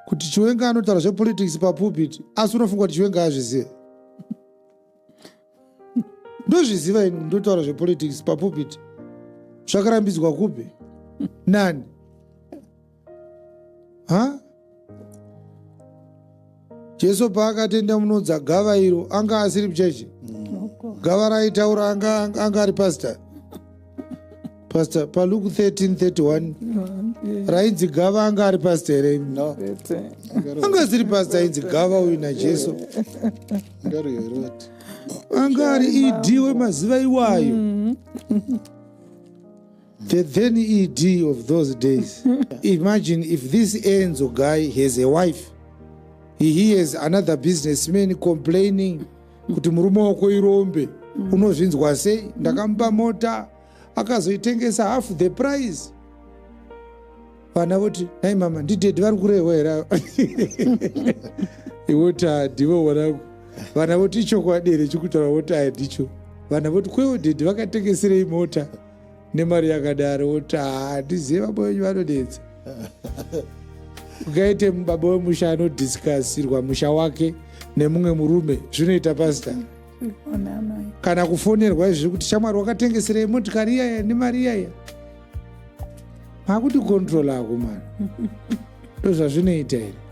kuti chiwenga anotaura zvepolitics papulpit asi unofunga kuti chiwenga azvizive ndozviziva ini ndotaura zvepolitics papulpit zvakarambidzwa kupi nani ha huh? jesu paakatenda munonzi agava iro anga asiri muchechi gava raitaura anga ari pastor pastor paluke 1331 rainzi gava anga ari pastor here no. anga asiri pastor ainzi gava uyu najesu anga ari ed wemaziva iwayo mm. The then ED of those days. Imagine if this Enzo guy has a wife, he hears another businessman complaining kuti murume wako irombe mm. unozvinzwa sei ndakamupa mota akazoitengesa half the price vana voti nai mama ndidedi vari kurehwa here iwoti hadivo wanangu vana voti ichokwadi here chikutaura woti ayandicho vana voti kwewo dedi vakatengeserei mota nemari yakadaro woti handizive baba wenyu vanonetsa ukaite baba wemusha anodhiskasirwa musha wake nemumwe murume zvinoita pasta kana kufonerwa izvi kuti shamwari wakatengeserei motikari iyaya nemari iyaya makuti control ako mwana ndozvazvinoita here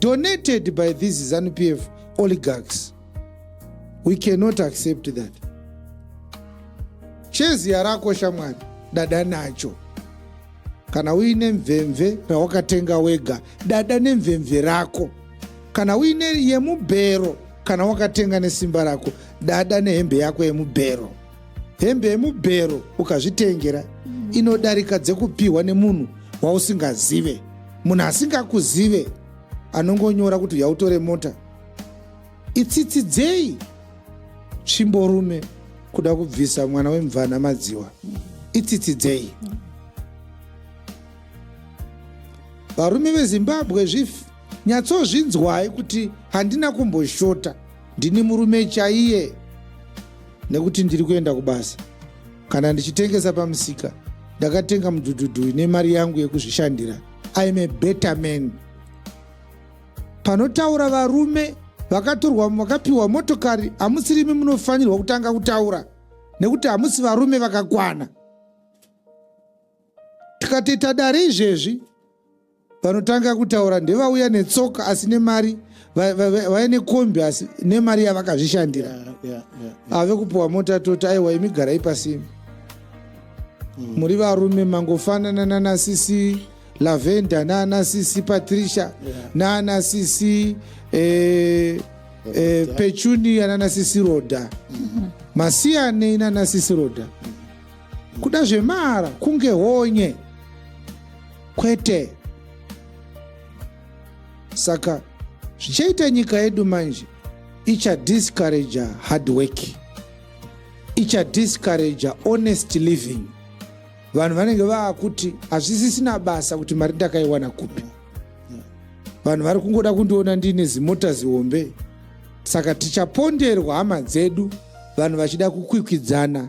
donated by these zanu pf oligarchs we cannot accept that cheziya rako shamwari dada nacho kana uine mvemve rawakatenga wega dada nemvemve rako kana uine yemubhero kana wakatenga nesimba rako dada nehembe yako yemubhero Hembe yemubhero ukazvitengera mm. inodarika dzekupihwa nemunhu wausingazive. Munhu asingakuzive anongonyora kuti yautore mota. Itsitsi dzei tsvimborume kuda kubvisa mwana wemvana madziwa. Itsitsi dzei. Varume veZimbabwe zvifi nyatsozvinzwai kuti handina kumboshota. Ndini murume chaiye nekuti ndiri kuenda kubasa. Kana ndichitengesa pamusika, ndakatenga mudhudhudhu ine mari yangu yekuzvishandira. I am a better man. Panotaura varume vakatorwa vakapiwa motokari hamusirimi munofanirwa kutanga kutaura nekuti hamusi varume vakakwana tikatoita dare izvezvi vanotanga kutaura ndevauya netsoka asi nemari vaya nekombi asi nemari yavakazvishandira ave kupiwa mota toti aiwa imi garai pasimi hmm. muri varume mangofanana nana sisi lavenda nana sisi patricia nana sisi eh, eh, pechunia nana sisi roda hmm. masiyanei nana sisi roda hmm. kuda zvemara kunge honye kwete saka zvichaita nyika yedu manje ichadiscouraja hard work ichadiscouraja honest living vanhu vanenge vaakuti hazvisisina basa kuti mari ndakaiwana kupi vanhu vari kungoda kundiona ndiine zimota zihombe saka tichaponderwa hama dzedu vanhu vachida kukwikwidzana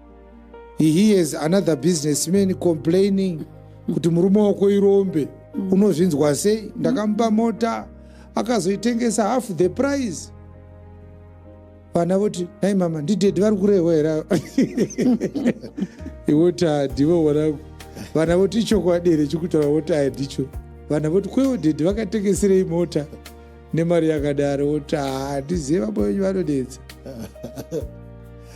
he hears another businessman complaining kuti murume wako irombe mm. unozvinzwa sei ndakamupa mota akazoitengesa half the price vana voti nai mama ndidhedhi vari kurehwa here iwoti hadivo wanangu vana voti ichokwadi here chikutaura woti hadicho vana voti kwewo dhedhi vakatengeserei mota nemari yakadaro woti handizive baba venyu vanonetsa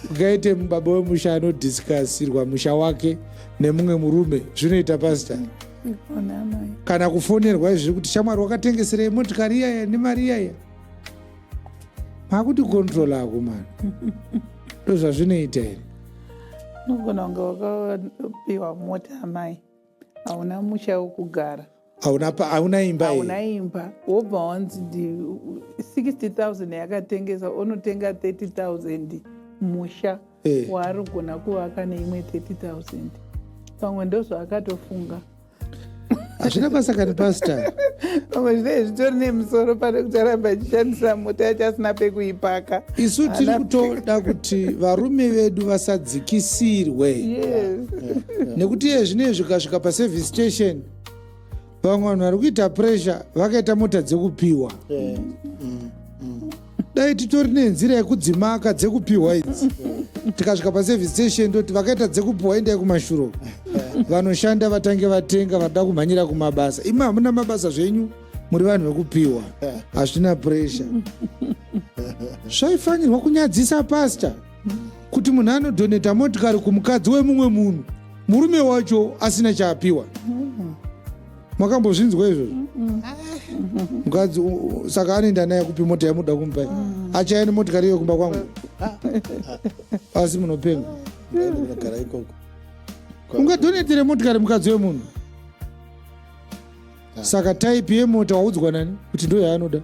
ungaite baba wemusha anodhiskasirwa musha wake nemumwe murume zvinoita pasta kana kufonerwa izviri kuti shamwari wakatengeserei motikari iyaya nemari iyaya makuti control ako mani ndozvazvinoita here unogona kunge wakapiwa mota amai hauna musha wekugara hauna imba hauna imba wobva wanzi 60000 yakatengesa onotenga 30000 musha eh. waari kugona kuvaka neimwe 30000 pamwe ndozvaakatofunga hazvina basa kani pasta pamwe zvinee zvitori nemusoro pane kucharamba achishandisa mota yacho asina pekuipaka isu tiri kutoda kuti varume vedu vasadzikisirwe nekuti iye zvinei zvikasvika paservice station vamwe vanhu vari kuita pressure vakaita mota dzekupiwa dai titori nenzira yekudzimaka dzekupiwa idzi tikasvika paservice station toti vakaita dzekupiwa endai kumashuro vanoshanda vatange vatenga vada kumhanyira kumabasa imi hamuna mabasa zvenyu muri vanhu vekupiwa hazvina pressure zvaifanirwa kunyadzisa pasta kuti munhu anodhoneta motikari kumukadzi wemumwe munhu murume wacho asina chaapiwa makambozvinzwa izvozvo mukadzi saka anoenda naye kupi mota yamuda kumupa mm. achaya nemotikari iyo kumba kwangu asi munopenga ungadhonetere motikari mukadzi wemunhu Ah. saka type yemota waudzwa nani kuti ndo yaanoda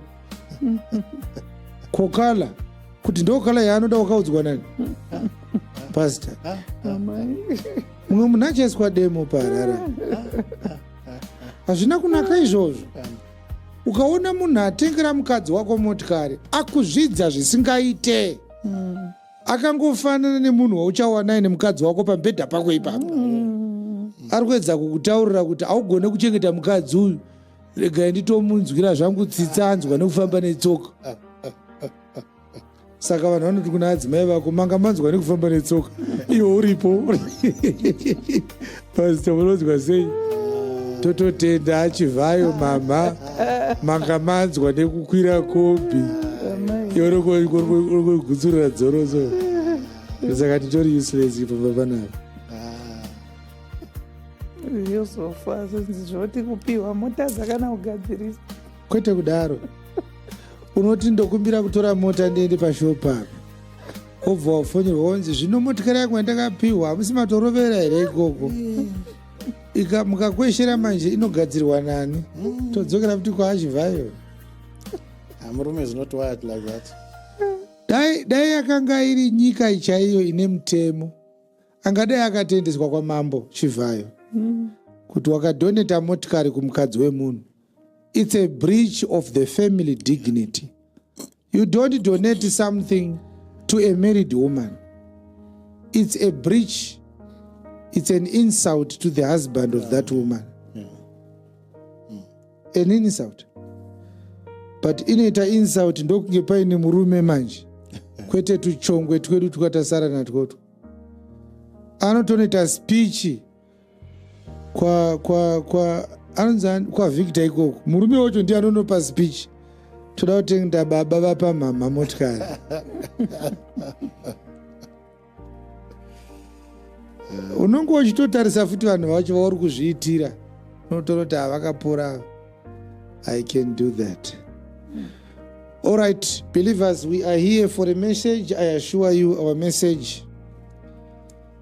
kokala kuti ndo kala yaanoda wakaudzwa nani pastor Amai. mumwe munhu achaiswa demo paharara hazvina kunaka izvozvo ukaona munhu atengera mukadzi wako motikari akuzvidza zvisingaite akangofanana nemunhu wauchawanai nemukadzi wako pamubhedha pako ipapo mm. ari kuedza kukutaurira kuti haugone kuchengeta mukadzi uyu regai nditomunzwira zvangu tsitsa anzwa nekufamba netsoka saka vanhu vanoti kuna adzimai vako manga manzwa nekufamba netsoka iwo uripo Pastor munonzwa sei? Tototenda achivhayo mama manga manzwa nekukwira kombi yorogutsurira dzoro so saka titori useless ipo papanapa yozofa zvinzi zvoti kupiwa mota dzakana kugadzirisa kwete kudaro unoti ndokumbira kutora mota ndiende pashopa apa wobva wafonirwa wonzi zvino motikari yangu yandakapihwa hamusi matorovera here ikoko ika mukakweshera manje inogadzirwa nani todzokera futi kwaachivhayo hamurume ah, zinoti wayat like that dai dai yakanga iri nyika ichaiyo ine mutemo angadai akatendeswa kwamambo chivhayo mm. kuti wakadhoneta motikari kumukadzi wemunhu it's a breach of the family dignity you don't donate something to a married woman it's a breach it's an insult to the husband of that woman yeah. Yeah. Mm. an insult but inoita insult ndokunge paine murume manje kwete tuchongwe twedu twakatasara natwoto anotonoita spichi kwa kwa kwa anonzi kwa victor ikoko murume wacho ndiye anonopa speech toda kutengda baba vapa mhamha motikari unonge uchitotarisa futi vanhu vacho vauri kuzviitira unotoona kuti havakapora i can do that all right believers we are here for a message i assure you our message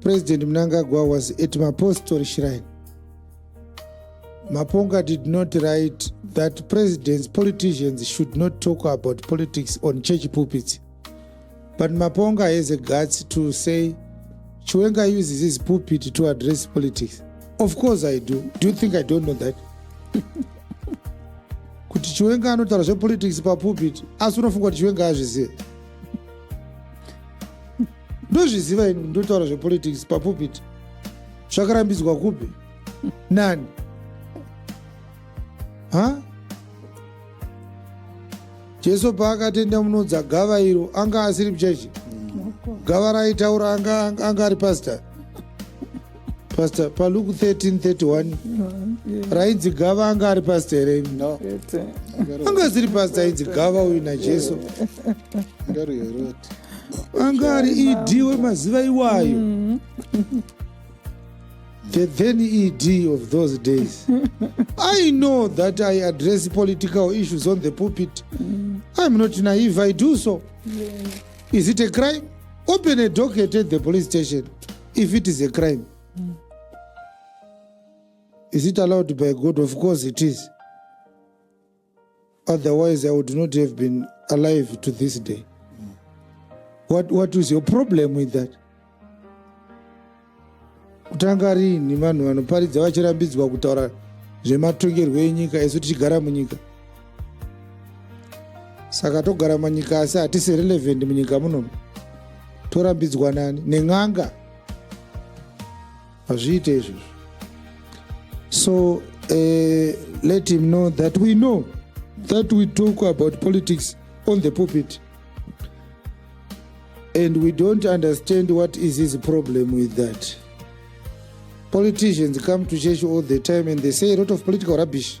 President Mnangagwa was at Mapostori Shrine. Maponga did not write that presidents, politicians should not talk about politics on church pulpits. But Maponga has a guts to say, Chiwenga uses his pulpit to address politics. Of course I do. Do you think I don't know that? kuti chiwenga anotaura zvepolitics papulpit asi unofunga kuti chiwenga azvizive ndozviziva ini ndotaura zvepolitics papupiti zvakarambidzwa kupi nani ha jesu paakatenda munodza gava iro anga asiri muchechi gava raitaura anga, anga, anga ari pastor Pastor, pa Luke 13:31 rainzi gava anga ari pasta here? No. Anga asiri pasta ainzi gava uyu naJesu. Anga ari ED wemaziva iwayo. Mm. The then ED of those days. I know that I address political issues on the pulpit. Mm. I'm not naive, I do so. Is it a crime? Open a docket at the police station. if it is a crime mm. is it allowed by god of course it is otherwise i would not have been alive to this day mm. what, what is your problem with that kutanga riini vanhu vanoparidza vachirambidzwa kutaura zvematongerwo enyika isu tichigara munyika saka togara manyika asi hatisi relevant munyika muno torambidzwa nani nen'anga hazviite izvozvo so uh, let him know that we know that we talk about politics on the pulpit and we don't understand what is his problem with that politicians come to church all the time and they say a lot of political rubbish